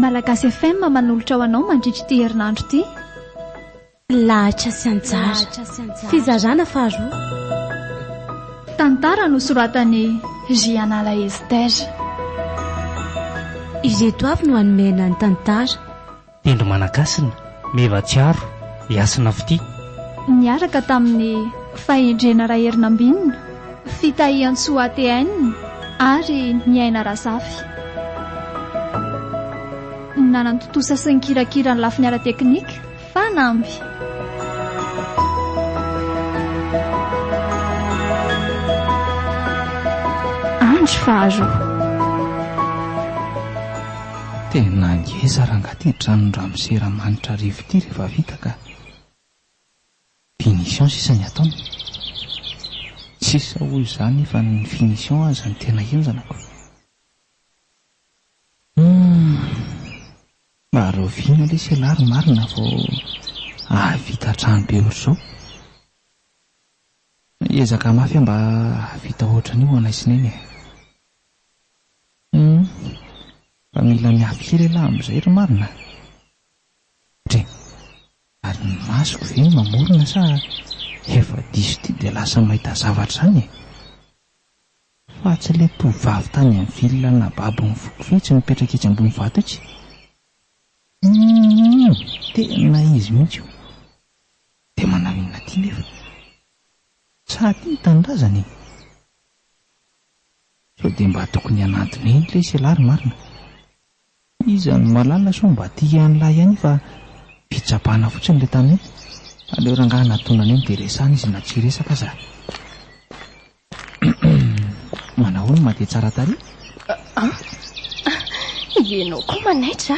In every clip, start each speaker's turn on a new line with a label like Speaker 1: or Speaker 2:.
Speaker 1: Malagasy FM manolotra ho anao mandritra ity herinandro ity.
Speaker 2: Lahatra sy anjara. Fizarana faharoa. Tantara
Speaker 1: nosoratan'i Jianala Esther.
Speaker 2: Ireto avy no hanome anà ny tantara. Tendro
Speaker 3: Manakasina, Meva Tsiaro, i Hasina Fitia. Niaraka
Speaker 1: tamin'ny Fahendrena Raherinambinina, Fitahiantsoa ATN ary ny Aina Razafy. Nanantontosa sy nikirakira ny lafiny ara-teknika, Fanamby. Andro faharoa.
Speaker 4: Tena ngeza ranga ty tranon ramose ramanitra arivo ty refa vita ka punition sisa ny ataony sisa hoy za nefa ny finition aza no tena henjana ko humm mba rahoviana lesy elah ry marina vao ahavita trano be otrzao hiezaka mafy aho mba hahavita otran'io ho anay sy neny e. Humm fa mila miafy kely elah amin'izay ry marina a! Dry! Ary ny masoko ve no mamorona sa efa diso ity dia lasa mahita zavatra izany e! Fa tsy ilay tovovavy tany amin'ny ville nababo ny foko ve tsy mipetraka etsy ambony vato etsy? Humm tena izy mihitsy io! Dia manao inona aty nefa? Sa aty ny tanindrazany e? Sao dia mba tokony hananty be ny lesy ialahy ry marina? Iza no mahalala sao mba tia an'la ihany fa fitsapana fotsiny le tany hoe aleo rangahy natonany eny dia resahana izy na tsy hiresaka aza Humm manao ahoana ma dia tsara tarehy? An,
Speaker 2: ianao koa manaitra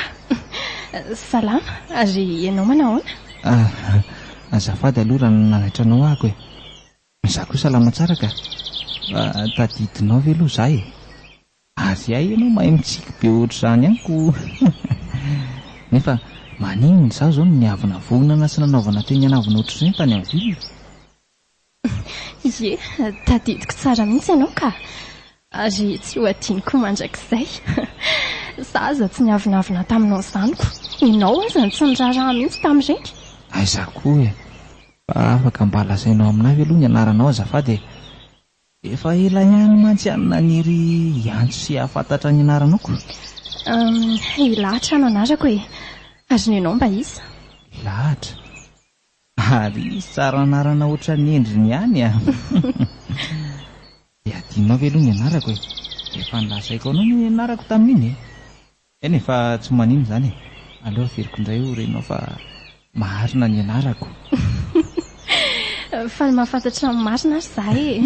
Speaker 2: a! Salama, ary ianao manao ahoana? Ah,
Speaker 4: azafady aloha raha nanaitra anao ahako e! Izaho koa salama tsara ka! Fa tadidinao ve aloha izaho e? Ary hay ianao mahay mitsiky be ohatr'izany amiko nefa maninona izaho izao no niavonavonana sy nanaovana teny anavona ohatr'ireny tany amin'ny ville?
Speaker 2: Ie, tadidiko tsara mihitsy ianao ka! Ary tsy ho adinoko mandrakizay. Za aza tsy niavonavona taminao ny zaniko. Ianao aza no tsy niraharaha mihitsy tamin'ireny. Aiza koa
Speaker 4: e! Fa afaka mba lazainao aminay ve aloha ny anaranao azafady e! Efa ela ihany mantsy aho no naniry hiantso sy hahafantatra ny anaranao ko.
Speaker 2: Ilahatra no anarako e! Ary ny anao mba iza? Ilahatra?
Speaker 4: Ary tsara anarana ohatran'ny endriny ihany a! Dia adinonao ve aloha ny anarako e! Efa nolazaiko anao ny anarako tamin'iny e! Eny e, fa tsy maninona izany e! Aleo averiko indray ho renao fa marina ny anarako.
Speaker 2: Faly mahafantatra ny marina ary izahay e!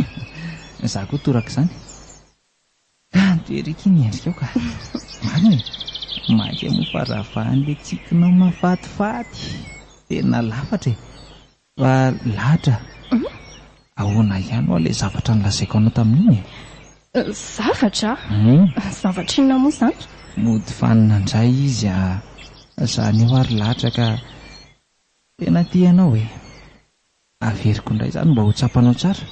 Speaker 2: Izaho koa
Speaker 4: toraka izany. Kanto ery akia ny endrikao ka! Marina e! Maika moa fa ravahan'ilay tsikinao mahafatifaty! Tena lafatra e! Fa lahatra ahoana ihany ho'a ilay zavatra nolazaiko anao tamin'iny e? Zavatra?
Speaker 2: Zavatra inona moa izany? Mody fanina
Speaker 4: indray izy a! Izany eo ary lahatra ka tena tia anao e! Averiko indray izany mba ho tsapanao tsara,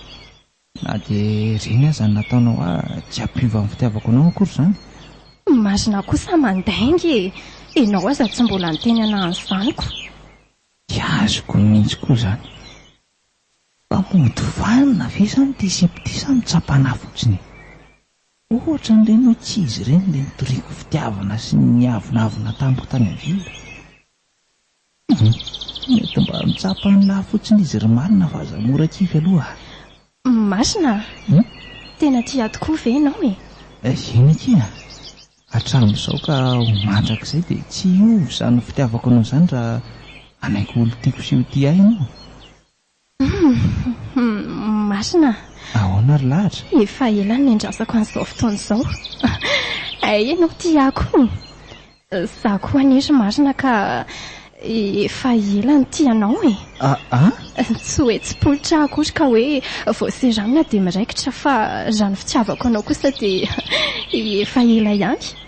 Speaker 4: na dia ireny aza no nataonao ahy, tsy hampiova ny fitiavako anao akory izany. Imagine
Speaker 2: kosa mandainga e! Ianao aza tsy mbola niteny anah an'izany ko! Tsy azoko
Speaker 4: mihitsy koa izany. Fa mody vanona ve izany ity sipa ity sa mitsapa anah fotsiny e? Ohatra an'ireny hoe tsy izy ireny ilay nitoriako fitiavana sy niavonavona tamiko tany avia. Mety mba mitsapa ny lafotsin'izy ry marina fa aza mora kivy aloha a! Masina
Speaker 2: a! Tena tia ahy tokoa ve ianao e? Eh, eny akia!
Speaker 4: Hatramin'izao ka ho mandrakizay dia tsy hiova izany fitiavako anao izany raha hanaiky ho olon-tiako sy ho tia ahy ianao.
Speaker 2: Masina. Ahoana ry
Speaker 4: lahatra? Efa ela no niandrasako
Speaker 2: an'izao fotoana izao. Hay ianao tia akoho? Izaho koa anie ry marina ka efa ela no tia anao e. Aa? Tsy hoe tsy politra aho akory ka hoe vao seramina dia miraikitra fa raha ny fitiavako anao kosa dia efa ela ihany.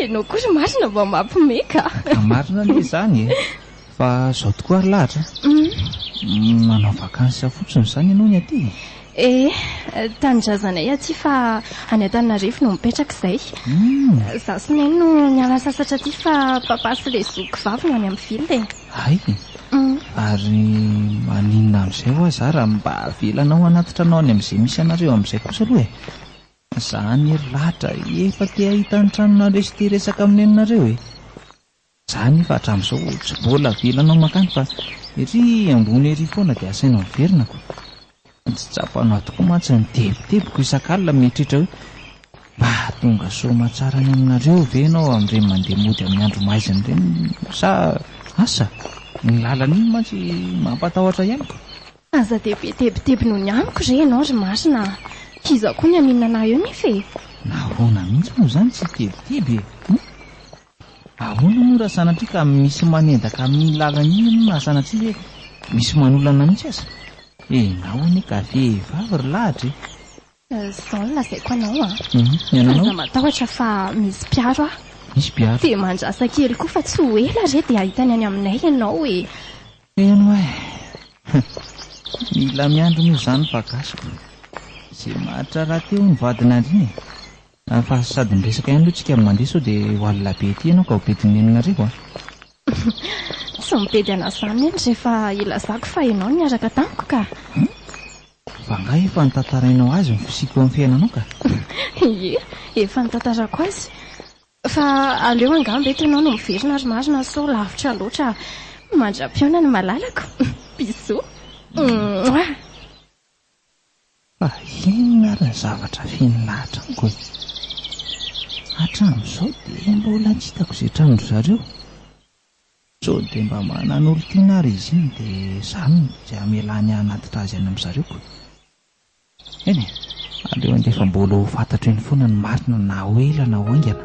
Speaker 2: Ianao koa ry marina mba mampime ka. Ka marina anie
Speaker 4: izany e. Fa izao tokoa ary lahatra. Uhm. Manao vacances fotsiny izany ianao ny aty e. Ee, tanindrazanay
Speaker 2: aty fa any Antananarivo no mipetraka izay. Uhm. Izaho sy Neny no niala sasatra aty fa Papa sy ilay zoky vavy no any amin'ny ville e. Hay e!
Speaker 4: Ary maninona amin'izay hoa za raha mba avelanao hanatitra anao any amin'izay misy anareo amin'izay kosa aloha e! Za anie ry Lahatra efa te hahita ny tranonareo sy te hiresaka amin'ny neninareo e! Za anefa hatramin'izao tsy mbola avelanao mankany fa ery ambony ery foana dia asainao miverina ko! Tsy tsapanao tokoa mantsy ny tebitebiko isak'alina mieritreritra hoe, mba hahatonga soamatsara any aminareo ve ianao amin'ireny mandeha mody amin'ny andro maizina ireny sa asa? Ny lalana iny mantsy mampatahotra ihany ko! Aza dia be
Speaker 2: tebiteby noho ny amiko re ianao ry marina a! K'izaho koa ny haninona anao eo nefa e! Nahoana mihitsy
Speaker 4: moa izany tsy tebiteby e? Ahoana moa raha sanatria ka misy manendaka amin'iny lalana iny ianao na sanatria hoe misy manolana mihitsy aza? Enao anie ka vehivavy ry lahatra e! Izao no
Speaker 2: lazaiko anao an! Aza matahotra
Speaker 4: fa
Speaker 2: misy mpiaro aho. Misy mpiaro? Dia
Speaker 4: mandrasa kely
Speaker 2: koa fa tsy ho ela re dia hahita ny any aminay ianao e! Heno ahy e!
Speaker 4: Mila miandry moa izany fa gasiko. Izay maharitra rahateo hono vadin'Andriana e! Ary fa sady miresaka ihany aloha tsika amin'ny mandeha sao dia ho alina be ety ianao ka ho bedin'ny nenin'areo a!
Speaker 2: Tsy mibedy an'azany anie rehefa ilazako fa ianao no niaraka tamiko ka!
Speaker 4: Fa angaha efa nitantarainao azy ny fisiako eo amin'ny fiainanao ka! Ie,
Speaker 2: efa nitantarako azy. Fa aleo angamba eto ianao no miverina ry marina sao lavitra loatra mandra-pihaona ny malalako! Bisous! Mouah!
Speaker 4: Fa inona ary ny zavatra feno lahatra amiko e? Hatramin'izao dia mbola tsy hitako izay tranon-dry zareo. Sao dia mba manana olon-tiana ary izy iny dia izany no tsy hamelany hanatitra azy any amin'ny zareoko. Eny e, aleo andefa-bola ho fantatro eny foana ny marina na ho ela na ho haingana.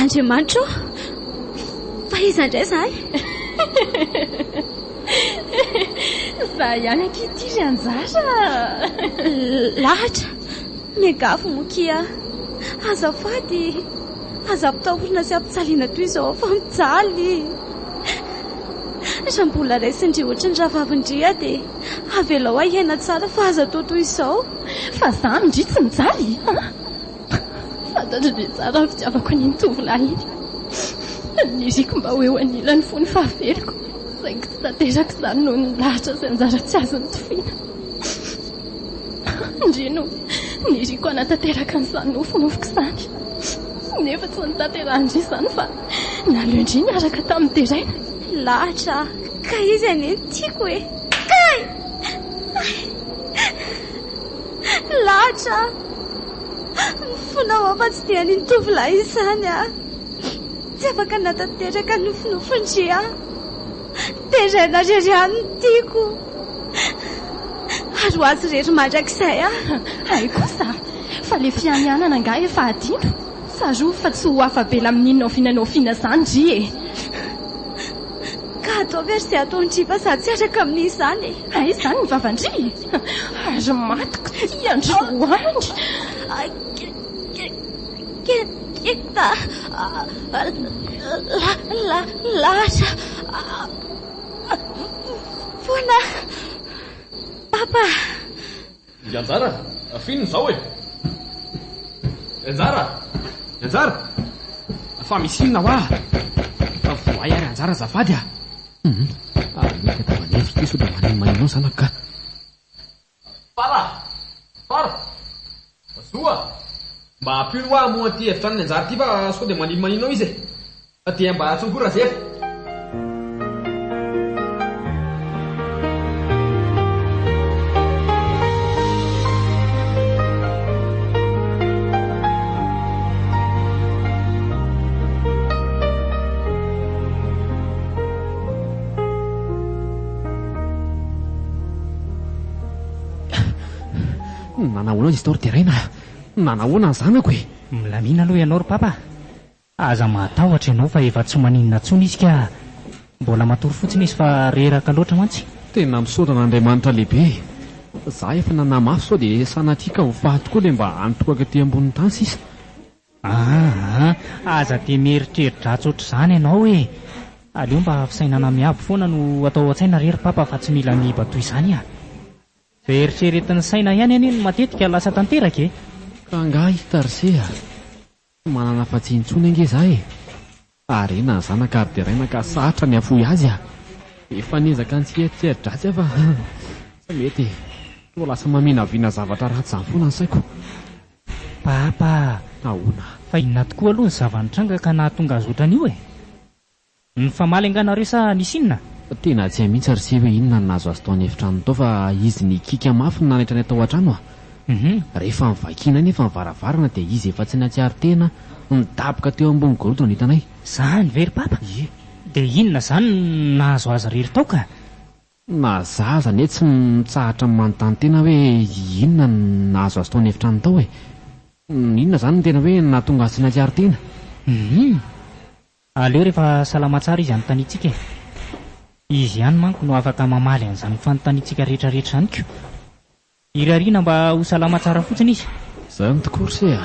Speaker 5: Andriamanitra ô! Fa iza indray izahay?
Speaker 2: Izaho ihany ankehitriny ry anjara.
Speaker 5: Lahatra, miangavy moa akia aho. Azafady, aza ampitahorina sy ampijaliana toy izao aho fa mijaly. Raha mbola raisindry ohatra ny rahavavindry aho dia avelao aho hiaina tsara fa aza atao toy izao. Fa izaho
Speaker 2: indry tsy mijaly? Fantatro dia tsara ny fitiavako an'iny tovolahy iny. Niriko mba ho eo anilany fony ny fahaveriko, saingy tsy tanteraka izany noho ny lahatra sy anjara tsy azo nitoviana. Ndry no niriko hanatanteraka an'izany nofinofiko izany, nefa tsy notanterahin-dry izany fa naleon-dry niaraka tamin'ny deraina. Lahatra
Speaker 5: aho, ka izy anie no tiako e! Kay! Lahatra aho. Ny fonao aho fa tsy dia an'iny tovolahy izany aho. Tsy afaka nanatanteraka ny nofinofin-dry aho. Deraina irery aho ny tiako. Ary ho azy irery mandrakizay aho. Hay kosa,
Speaker 2: fa ilay fianianana angaha efa adino? Tsarovy fa tsy ho afa-bela amin'inona oviana na oviana izany ry e! Ka
Speaker 5: atao ve ry izay ataon'i Triva sady tsy araka amin'izany e? Hay izany ny vavan-dry
Speaker 2: e! Ary matiko ity androany!
Speaker 5: Keta! Lahatra! Foana! Papa!
Speaker 6: Ry anjara a! F'ino izao e? Ry anjara! Ry anjara! Fa misy inona hoa? Fa voay aho ry anjara azafady a! Hum! Ary ny eka tava nefy ity sao dia maninonmaninona zanako ka! Fara! Fara! Zoa! Mba ampio ny hoa hamoha an'ity efitra any ny anjara ity fa sao dia maninonmaninona ao izy e! Fa dia mba antso koa Razefa. Nanahoana izy tao ry Deraina? Nanahoana ny zanako e? Milamina aloha ianao ry
Speaker 3: Papa a! Aza mahatahotra ianao fa efa tsy maninona tsony izy ka! Mbola matory fotsiny izy fa reraka loatra mantsy. Tena misaotra
Speaker 6: an'Andriamanitra lehibe e! Za efa nanamafy sao de sanatria ka ho faty koa le mba antohako aty ambonin'ny tany sisa. Aa!
Speaker 3: Aza de mieritreridratsy ohatr'izany ianao e! Aleo mba fisainana miabo foana no atao ao an-tsaina re ry Papa fa tsy mila miiba toy izany an! Izay eritreretin'ny saina ihany anie no matetika lasa tanteraka e! Ka angaha i
Speaker 6: Tarsé a! Tsy manana afa-tsy intsony ange za e! Harena ny zanaka ary deraina ka sarotra ny hafoy azy a! Efa niezaka ny tsy hieritreri-dratsy aho fa tsy mety e! Toa lasa maminavina zavatra ratsy izany foana ny saiko.
Speaker 3: Papa! Ahoana?
Speaker 6: Fa inona tokoa
Speaker 3: aloha ny zava-nitranga ka nahatonga azy ohatran'io e? Nifamaly angaha nareo sa nisy inona? Tena tsy hay mihitsy
Speaker 6: ary se hoe inona no nahazo azy tao an'efitranony tao fa izy nikiaka mafy no nanaitra anay tao an-trano a! Rehefa nivakianay nefa ny varavarana dia izy efa tsy nahatsiaro tena nidaboka teo ambony gorodona no hitanay. Zany ve ry Papa?
Speaker 3: Ie. Dia inona zany no nahazo azy irery tao ka? Na za
Speaker 6: aza anie tsy mitsahatra manontany tena hoe inona no nahazo azy tao an'efitranony tao e! Inona zany no tena hoe nahatonga azy tsy nahatsiaro tena? Hum.
Speaker 3: Aleo rehefa salama tsara izy anontaniantsika e! Izy ihany manko no afaka mamaly an'izany fanontaniantsika rehetrarehetra izany ko! Irariana mba ho salama tsara fotsiny izy! Zany tokoa ry se
Speaker 6: a!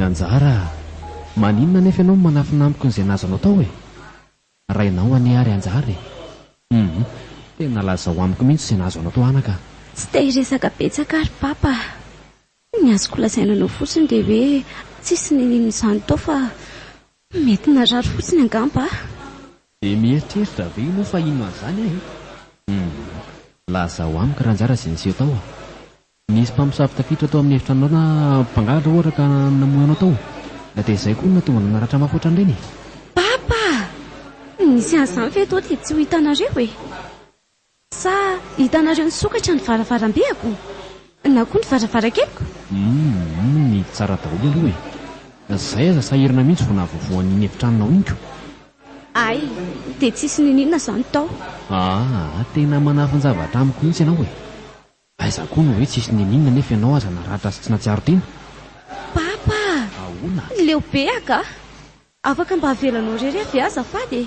Speaker 6: Anjara a! Maninona anefa ianao no manafina amiko an'izay nazanao tao e? Rainao anie ary Anjara e! Hum! Tena lazao amiko mihitsy izay nahazo anao tao anaka a! Tsy te hiresaka
Speaker 5: betsaka aho ry Papa a! Ny azoko lazaina anao fotsiny dia hoe tsisy nininona izany tao fa. Mety narary fotsiny angamba a! Dia
Speaker 6: mieritreritra ve ianao fa inona an'izany aho e? Hum. Lazao amiko raha anjara izay niseho tao a! Nisy mpamosavy tafiditra tao amin'ny efitranonao na mpangalatra ohatra ka namoy anao tao. Na dia izay koa no nahatonga anao naratra mafy ohatran'ireny e! Papa!
Speaker 5: Nisy an'izany ve eto dia tsy ho hitanareo e? Sa hitanareo nisokatra ny varavarambeko? Na koa ny varavarankeliko? Humm
Speaker 6: nidy tsara daholo aloha e! Zay aza sahirana mihitsy vao nahavoavoa an'iny efitranonao iny ko! Hay!
Speaker 5: Dia tsisy niniana zany tao! Aa tena
Speaker 6: manafin-javatra amiko mihitsy ianao e! Aiza koa no hoe tsisy niniana nefa ianao aza naratra sy tsy natsiaro tena! Papa
Speaker 5: a! Ahoana?
Speaker 6: Leo be aka
Speaker 5: a! Afaka mba avelanao irery avy aho azafady e!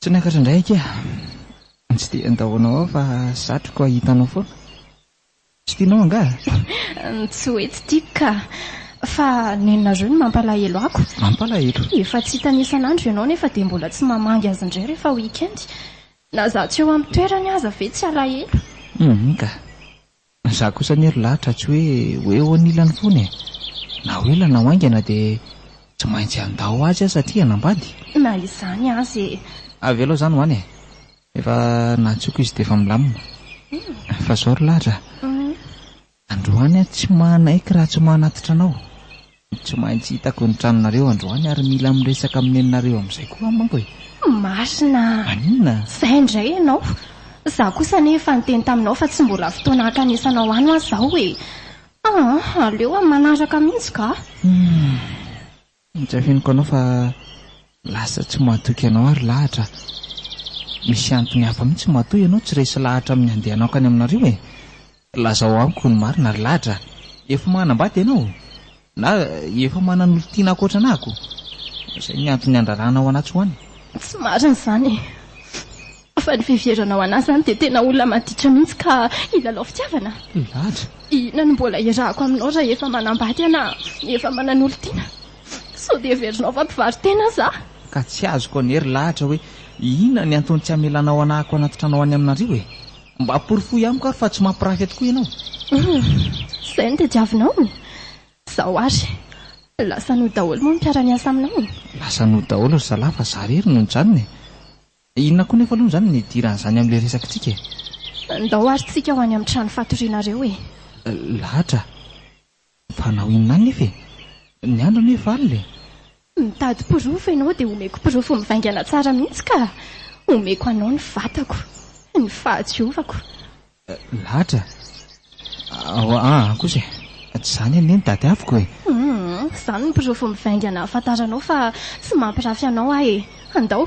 Speaker 4: Tsy niakatra indray akia a! Tsy dia handao anao aho fa satriko hahita anao foana. Tsy tianao angaha? Tsy hoe
Speaker 2: tsy tiako ka! Fa nenonareo no mampalahelo ako. Mampalahelo? Efa
Speaker 4: tsy hitany
Speaker 2: isan'andro ianao nefa dia mbola tsy mamangy azy indray rehefa week-end. Na izaho tsy eo amin'ny toerany aza ve tsy alahelo? Hum ka!
Speaker 4: Ny za kosa anie ry Lahatra tsy hoe ho eo anilany foana e! Na ho ela na ho haingana dia tsy maintsy handao azy aho satria hanambady. Na izany
Speaker 2: aza e! Avelao izany ho any
Speaker 4: e! Efa nantsoiko izy dia efa milamina. Fa izao ry Lahatra a! Androany aho tsy manaiky raha tsy manatitra anao. Tsy maintsy hitako ny tranonareo androany ary mila miresaka amin'ny neninareo amin'izay koa aho manko e! Masina
Speaker 2: a! Maninona? Izay
Speaker 4: indray ianao!
Speaker 2: Izaho kosa anie efa niteny taminao fa tsy mbola fotoana hankanesanao any ho'a izao e! Ah! aleo amin'ny manaraka mihitsy ka! Humm! Tsy
Speaker 4: afeniko anao fa lasa tsy mahatoky anao ary lahatra. Misy antony hafa mihitsy matoa ianao tsy resy lahatra amin'ny handehanako any aminareo e! Lazao amiko ny marina ry ladra a! Efa manambady ianao? Na efa manan'olon-tiana ankoatra anà ko? Izay ny antony niandraranao anà tsy ho any? Tsy marina izany
Speaker 2: e! Fa ny fiheveranao anà izany dia tena olona maditra mihitsy ka hilalao fitiavana? Ladra!
Speaker 4: Inona no mbola
Speaker 2: iarahako aminao raha efa manambady anà, efa manan'olon-tiana? Sao dia heverinao fa mpivaro-tena aza aho? Ka tsy azoko
Speaker 4: anie ry ladra hoe inona ny antony tsy hamelanao anà ako anaty trano any aminareo e! Mba porofoy amiko ary fa tsy mampirafy atokoa ianao. Humm,
Speaker 2: izay no tadiavinao e! Izao ary, lasa an'o daholo moa ny mpiara-miasa aminao e! Lasa an'o daholo
Speaker 4: ry zalahy fa za irery no nijanona e! Inona koa nefa aloha izany no nidiran'izany amin'ilay resakintsika e! Ndao ary tsika ho any
Speaker 2: amin'ny trano fatorianareo e! Lahatra!
Speaker 4: Fanao inona anefa e? Ny andro anie efa alina e! Mitady porofo
Speaker 2: ianao dia omeko porofo mivaingana tsara mihitsy ka! Omeko anao ny vatako, ny fahatsiovako.
Speaker 4: Lahatra? Ao aa kosa e! Tsy izany anie ny tadiaviko e! Hum, izany ny
Speaker 2: porofo mivaingana ahafantaranao fa tsy mampirafy anao aho e! Andao!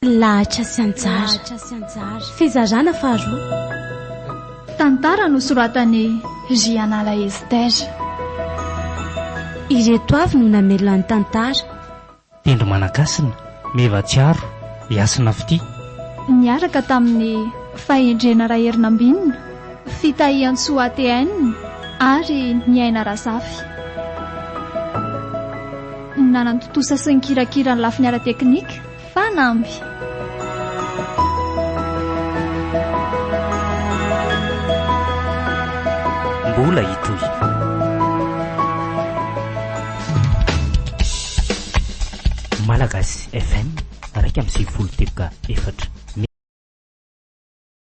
Speaker 5: Lahatra sy anjara. Fizarana faharoa. Tantara
Speaker 1: nosoratan'i Jianala Esther.
Speaker 5: Ireto avy no namelona ny tantara. Tendro
Speaker 3: Managasina, Meva Tsiaro, i Hasina Fitia. Niaraka
Speaker 1: tamin'i Fahendrena Raherinambinina, Fitahiantsoa ATN, ary Niaina Razafy. Nanan-tontosa sy nikirakira ny lafiny ara-teknika. Fanamby.
Speaker 3: Mbola hitohy. Malagasy FM raika amby sivifolo teboka efatra